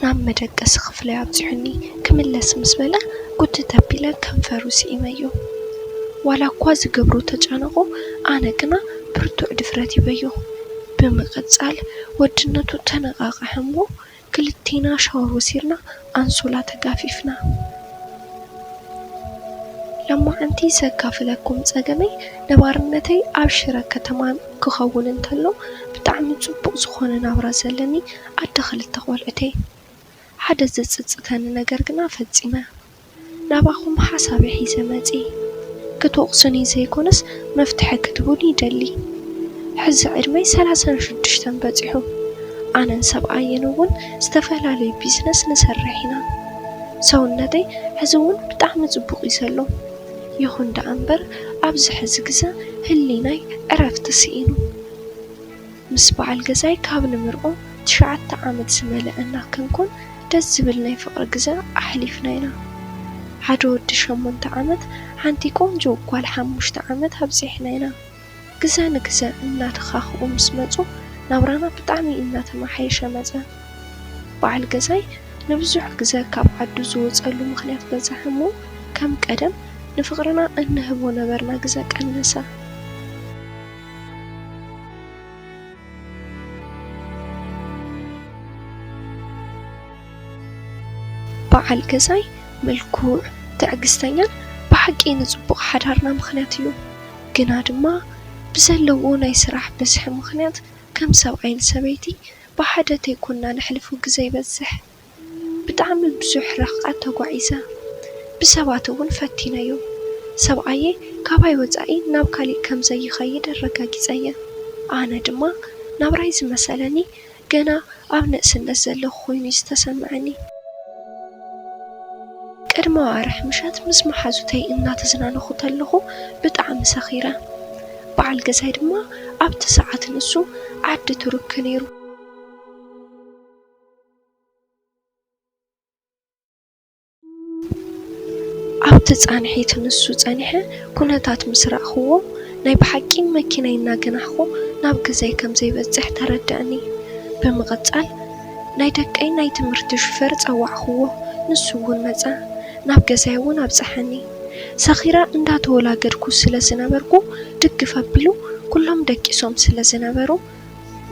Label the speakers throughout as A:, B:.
A: ናብ መደቀሲ ክፍለይ ኣብጺሑኒ ክምለስ ምስ በለ ጉትት ኣቢለ ከንፈሩ ስኢመዮ። ዋላ እኳ ዝገብሮ ተጨነቑ ኣነ ግና ብርቱዕ ድፍረት ሂበዮ። ብምቕጻል ወድነቱ ተነቓቕሐ እሞ ክልቴና ሻወር ወሲድና ኣንሶላ ተጋፊፍና። ለማዓንቲ ዘካፍለኩም ጸገመይ ነባርነተይ ኣብ ሽረ ከተማ ክኸውን እንተሎ ብጣዕሚ ጽቡቕ ዝኾነ ናብራ ዘለኒ ኣደ ኽልተ ቈልዑተይ፣ ሓደ ዜጽጽተኒ ነገር ግና ፈጺመ ናባኹም ሓሳበይ ሒዘ መጺኤ። ክትወቕሱኒ ዘይኰነስ መፍትሒ ክትህቡኒ ይደሊ። ሕዚ ዕድመይ ሰላሳን ሽዱሽተን በጺሑ፣ ኣነን ሰብኣየይን እውን ዝተፈላለየ ቢዝነስ ንሰርሕ ኢና። ሰውነተይ ሕዚ እውን ብጣዕሚ ጽቡቕ እዩ ዘሎ። ይኹን ደኣ እምበር፣ ኣብዚ ሕዚ ግዘ ህሊናይ ዕረፍቲ ስኢኑ። ምስ በዓል ገዛይ ካብ ንምርቆ ትሽዓተ ዓመት ዝመለኣና ክንኮን ደስ ዝብል ናይ ፍቅሪ ግዘ ኣሕሊፍና ኢና። ሓደ ወዲ ሸሞንተ ዓመት ሓንቲ ቆንጆ ጓል ሓሙሽተ ዓመት ኣብፂሕና ኢና። ግዘ ንግዘ እናተኻኽኡ ምስ መፁ ናብራና ብጣዕሚ እናተመሓየሸ መፀ። በዓል ገዛይ ንብዙሕ ግዘ ካብ ዓዱ ዝወፀሉ ምኽንያት በዘሐ እሞ ከም ቀደም ንፍቅርና እንህቦ ነበርና ግዘ ቀነሰ። በዓል ገዛይ ምልኩዕ፣ ትዕግስተኛን ብሓቂ ንጽቡቕ ሓዳርና ምኽንያት እዩ። ግና ድማ ብዘለዎ ናይ ስራሕ ብዝሒ ምኽንያት ከም ሰብኣይን ሰበይቲ ብሓደ ተይኮንና ነሕልፎ ግዘ ይበዝሕ። ብጣዕሚ ብዙሕ ርሕቐት ተጓዒዘ። ብሰባት እውን ፈቲነዮ። ሰብኣየይ ካባይ ወፃኢ ናብ ካሊእ ከም ዘይኸይድ ኣረጋጊፀ'የ። ኣነ ድማ ናብራይ ዝመሰለኒ ገና ኣብ ንእስነት ዘለኹ ኮይኑ እዩ ዝተሰመዐኒ። ቅድሚ ኣዋርሕ ምሸት ምስ መሓዙተይ እናተዝናነኹ ተለኹ ብጣዕሚ ሰኺረ። በዓል ገዛይ ድማ ኣብቲ ሰዓት ንሱ ዓዲ ቱርክ ነይሩ። ኣብቲ ፃንሒት ንሱ ፀኒሐ ኩነታት ምስ ርኣኹዎ ናይ ብሓቂ መኪናይ እናገናሕኹ ናብ ገዛይ ከም ዘይበፅሕ ተረደኣኒ። ብምቕፃል ናይ ደቀይ ናይ ትምህርቲ ሹፌር ፀዋዕኹዎ ንሱ እውን መፃ ናብ ገዛይ እውን ኣብፀሐኒ። ሰኺረ እንዳተወላገድኩ ስለ ዝነበርኩ ድግፍ ኣቢሉ ኩሎም ደቂሶም ስለ ዝነበሩ፣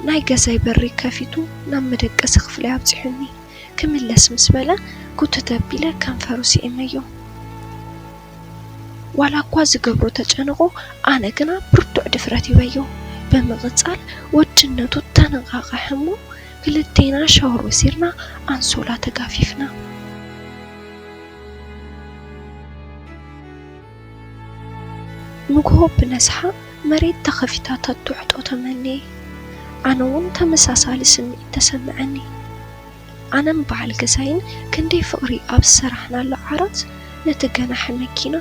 A: ናይ ገዛይ በሪ ከፊቱ ናብ መደቀሲ ክፍለይ ኣብጺሑኒ ክምለስ ምስ በለ ጉትት ኣቢለ ከንፈሩ ስዒመዮ። ዋላኳ ዝገብሮ ተጨንቑ ኣነ ግና ብርቱዕ ድፍረት ሂበዮ። ብምቕጻል ወድነቱ ተነቓቐሐ'ሞ ክልቴና ሻወር ወሲድና ኣንሶላ ተጋፊፍና። ንግሆ ብነስሓ መሬት ተኸፊታ ተትውሕጦ ተመንየ። ኣነ'ውን ተመሳሳሊ ስምዒት ተሰመዐኒ። ኣነን በዓል ገዛይን ክንደይ ፍቕሪ ኣብ ዝሰራሕናሉ ዓራት ነቲ ገናሒ መኪና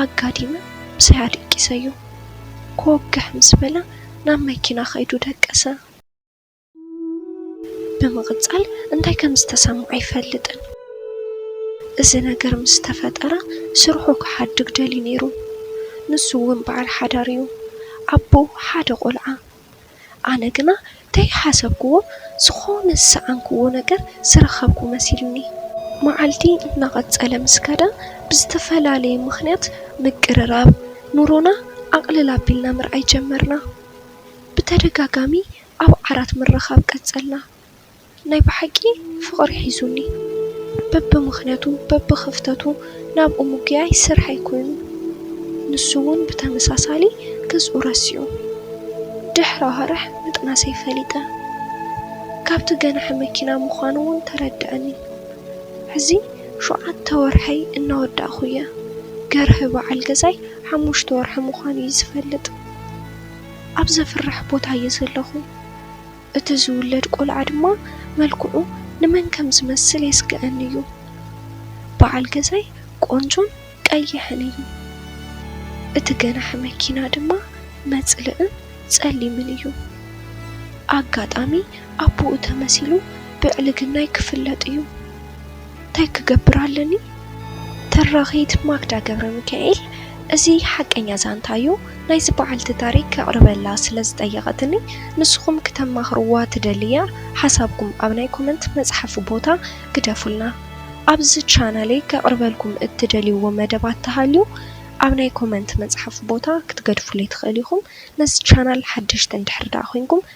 A: ኣጋዲመ ምሳይ ኣደቂሰዮ። ኮወግሕ ምስ በለ ናብ መኪና ከይዱ ደቀሰ። ብምቕጻል እንታይ ከም ዝተሰምዖ ኣይፈልጥን። እዚ ነገር ምስ ተፈጠረ ስርሑ ክሓድግ ደልዩ ነይሩ። ንሱ እውን በዓል ሓዳር እዩ፣ ኣቦ ሓደ ቈልዓ። ኣነ ግና ከይሓሰብክዎ ዝዀነ ዝሰኣንክዎ ነገር ዝረኸብኩ መሲሉኒ። መዓልቲ እናቐጸለ ምስ ከደ ብዝተፈላለየ ምኽንያት ምቅርራብ ኑሮና ኣቕልል ኣቢልና ምርኣይ ጀመርና። ብተደጋጋሚ ኣብ ዓራት ምርኻብ ቀጸልና። ናይ ብሓቂ ፍቕሪ ሒዙኒ። በብምኽንያቱ በብኽፍተቱ ናብኡ ምጉያይ ስርሐይ ኮይኑ። ንሱ'ውን ብተመሳሳሊ ገዝኡ ረሲዑ። ድሕሪ ኣዋርሕ ምጥናሰይ ፈሊጠ። ካብቲ ገናሒ መኪና ምዃኑ'ውን ተረደኣኒ። ሕዚ ሸውዓተ ወርሐይ እናወዳእኩ'የ። ገርሂ በዓል ገዛይ ሓሙሽተ ወርሒ ምዃኑ'ዩ ዝፈልጥ። ኣብ ዘፍርሕ ቦታ እየ ዘለኹ፣ እቲ ዝውለድ ቈልዓ ድማ መልክዑ ንመን ከም ዝመስል የስግኣኒ እዩ። በዓል ገዛይ ቈንጆን ቀይሕን እዩ፣ እቲ ገናሒ መኪና ድማ መጽልእን ጸሊምን እዩ። ኣጋጣሚ ኣቦኡ ተመሲሉ ብዕልግናይ ክፍለጥ እዩ። እንታይ ክገብር ኣለኒ? ተራኺት ማክዳ ገብረሚካኤል እዚ ሓቀኛ ዛንታ'ዩ፣ ናይዚ በዓልቲ ታሪክ ከቕርበላ ስለ ዝጠየቐትኒ ንስኹም ክተማኽርዋ ትደልያ ሓሳብኩም ኣብ ናይ ኮመንት መጽሓፊ ቦታ ግደፉልና። ኣብዚ ቻናለይ ከቕርበልኩም እትደልይዎ መደባት ተሃልዩ ኣብ ናይ ኮመንት መጽሓፊ ቦታ ክትገድፉለይ ትኽእሉ ኢኹም። ነዚ ቻናል ሓደሽቲ እንድሕር ደኣ ኮይንኩም